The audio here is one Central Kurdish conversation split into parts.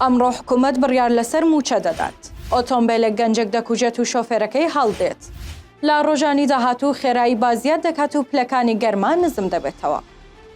ئەمڕۆ حکوومەت بڕیار لەسەر مووچە دەدات. ئۆتۆمبیلێک گەنجێک دەکوژێت و شۆفێرەکەی هەڵدێت. لە ڕۆژانی داهاتوو خێرایی بازیاد دەکات و پلەکانی گەرما نزم دەبێتەوە.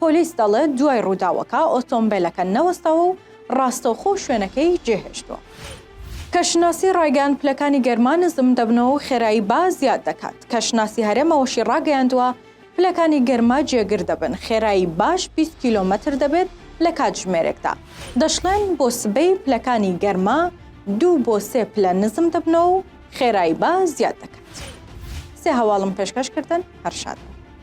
پۆلیس دەڵێت دوای رووداوەکە ئۆتۆمبێلەکە نەوەستاوە و راستەوخۆ شوێنەکەی جێهێشتووە. کەشناسی رایگەیاند پلەکانی گەرما نزم دەبنەوە و خێرایی با زیاد دەکات. کەشناسی هەرێم ئەوەشی راگەیاندووە، پلەکانی گەرما جێگر دەبن، خێرایی باش بیست کیلۆمەتر دەبێت لە کاتژمێرێکدا. دەشڵێن بۆ سبەی پلەکانی گەرما دوو بۆ سێ پلە نزم دەبنەوە و خێرایی با زیاد دەکات. سێ هەواڵم پێشکەش کردن، هەر شاد بن.